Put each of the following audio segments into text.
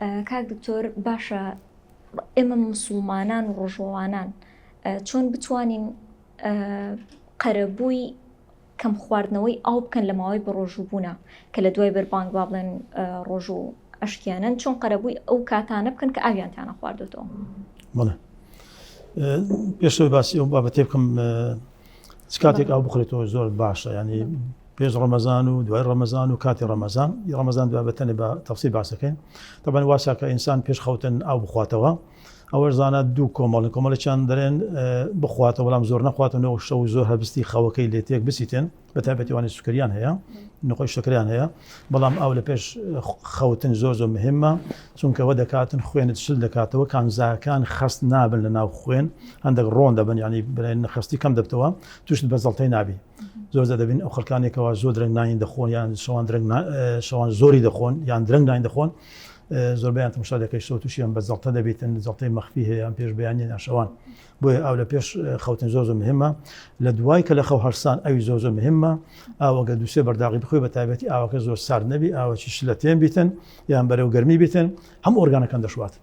کاک دکتۆر باشە ئێمە مسوڵمانان و ڕۆژوەوانان چۆن بتوانین قەرەبووی کەم خواردنەوەی ئاو بکەن لە ماوەی بە ڕۆژوو بوونا کە لە دوای بەربانگ با بڵێن ڕۆژوو ئەشکیانن چۆن قەرەبووی ئەو کاتانە بکەن کە ئاویان تانە خواردێتەوە بڵێ پێشەوەی باسی ئەو بابەتێ بکەم کاتێک ئەو بخرێتەوە زۆر باشە ینی پێش ڕەمەزان و دوای ڕەمەزان و کاتی ڕەمەزان ی ڕەمەزان دوای بەتەنێ بە تەفسیل باسەکەین تەبەن واسا کە ئینسان پێش خەوتن ئاو بخواتەوە ئەوەش زانە دوو کۆمەڵن کۆمەڵی چند دەرێن بخواتە بەڵام زۆر نەخواتن و شەو زۆر هەبستی خەوەکەی لێ تێک بسیتن بە تابەتیوانی سوکریان هەیە نخۆی شکریان هەیە بەڵام ئاو لە پێش خەوتن زۆر زۆر مهمە چونکەوە دەکاتن خوێنت شل دەکاتەوە کانزاکان خەست نابن لە ناو خوێن هەندێک ڕۆن دەبن ینی برێن خستی کەم دەبتەوە توشت بەزڵتەی نابی زۆر زە دەبین ئەو خەکانێکەوە زۆر درەنگ ناین دەخۆن یان شەوان درەنگ شەوان زۆری دەخۆن یان درەنگ ناین دەخۆن زۆربیان تمشا دەکەی شەوت تووشیان بە زەڵتە دەبێتن زەڵتەی مەخفی هەیەیان پێش بەیانە ناشەوان بۆیە ئاو لە پێش خەوتن زۆر زۆر مهمە لە دوای کە لە خەو هەرسان ئەوی زۆر زۆر مهمە ئاوەگە دووسێ بەرداغی بخۆی بە تابەتی ئاوەکە زۆر سارد نەبی ئاوەکی شلەتێن بیتن یان بەرەو گەرمی بیتن هەم ئۆرگانەکان دەشوات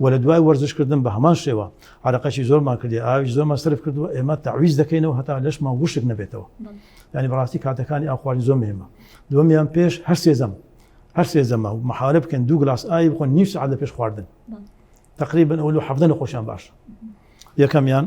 و لە دوای وەرزشکردن بە هەمان شێوە عرەقەشی زۆرمان کردی ئاویش زۆر مەسرف کردووە ئێمە تاویز دەکەینەوە هەتا لەشمان وشک نەبێتەوە ینی بەڕاستی کاتەکانی ئاخوارد زۆر مێمە دومیان پێش هەر سێزەم هەر سێزەمە و محالە بکەن دوو گلاس ئاوی بخۆن نیو سعات لە پێش خواردن تقریبا ئەو لە حەفتە نەخۆشیان باشە یەکەمیان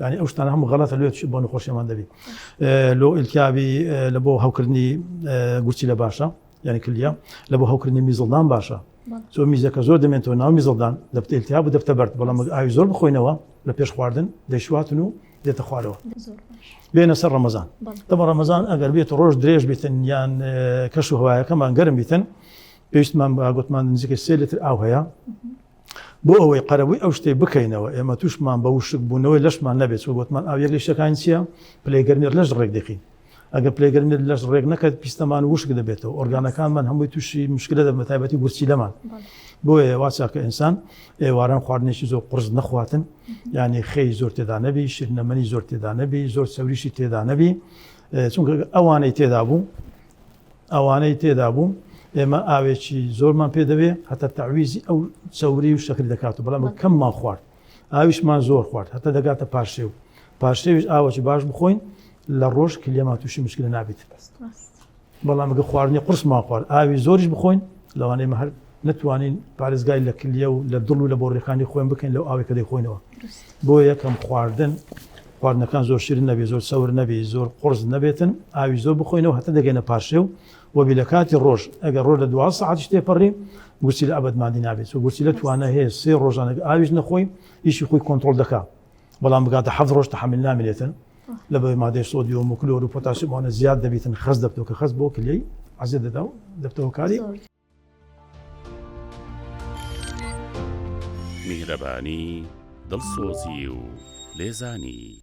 یعنی ئەو شتانە هەموو غەڵەتە لێ بۆ نەخۆشیمان دەبی لۆ ئیلتیابی لە بۆ هەوکردنی گورچی لە باشە یعنی کلیە لە بۆ هەوکردنی میزڵدان باشە زۆ میزەکە زۆر دەمێنەوە ناو میزڵدان دەبتە ئیلتیاب و دەبتە بەرد بەڵام ئاوی زۆر بخۆینەوە لە پێش خواردن دەیشواتن و دێتە خوارەوە بێنە سەر ڕەمەزان دەمە ڕەمەزان ئەگەر بێت ڕۆژ درێژ بێتن یان کەش و هوایەکەمان گەرم بیتن پێویستمان بە گوتمان نزیکە سێ لتر ئاو هەیە بۆ ئەوەی قەرەبووی ئەو شتەی بکەینەوە ئێمە تووشمان بە وشکبوونەوەی لەشمان نەبێت چۆ گوتمان ئاو یەک لە شتەکانی چییە پلەی گەرمی لەش ڕێک دەکەین ئەگەر پلەی گەرمی لەش ڕێک نەکرد پیستەمان وشک دەبێتەوە ئۆرگانەکانمان هەمووی تووشی مشکلە دەبن بە تایبەتی گورچیلەمان بۆیە واچە کە ئینسان ئێواران خواردنێکی زۆر قرس نەخواتن یعنی خێی زۆر تێدا نەبی شیرنەمەنی زۆر تێدا نەبی زۆر چەوریشی تێدا نەبی چونکە ئەوانەی تێدا بوو ئەوانەی تێدا بوو ئێمە ئاوێکی زۆرمان پێ دەوێ هەتا تەعویزی ئەو چەوری و شەکری دەکات و بەڵام کەممان خوارد ئاویشمان زۆر خوارد هەتا دەگاتە پارشێ و پارشێویش ئاوەکی باش بخۆین لە ڕۆژ کلیەما تووشی مشکل نابیت بەڵام گە خواردنی قرسمان خوارد ئاوی زۆریش بخۆین لەوانەیە مە هەر نتوانین پارێزگای لە کلیە و لە دڵ و لە بۆڕیەکانی خۆیان بکەین لەو ئاوێکە دەیخۆینەوە بۆ یەکەم خواردن خواردنەکان زۆر شیرن نەبێت، زۆر چەور نەبێت، زۆر قوڕس نەبێتن، ئاوی زۆر بخۆینەوە هەتا دەگەینە پارشێو، وەبی لە کاتی ڕۆژ، ئەگەر ڕۆژ لە دوازدە سەعاتیش تێپەڕی، گورچیلە ئەبەد ماندی نابێت، چونکە گورچیلە توانای هەیە سێ ڕۆژان ئەگەر ئاویش نەخۆی ئیشی خۆی کۆنتڕۆڵ دەکا، بەڵام بگاتە حەفت ڕۆژ تەحەمل نامێنێتن، لەبەر مادەی سۆدیۆم و کلۆر و پۆتاسیۆم ئەوانە زیاد دەبیتن، خەست دەبتەوە، کە خەست بۆ کلێی عەزێت دەدا و دەبتەوە کاری. میهرەبانی، دڵسۆزی و لێزانی.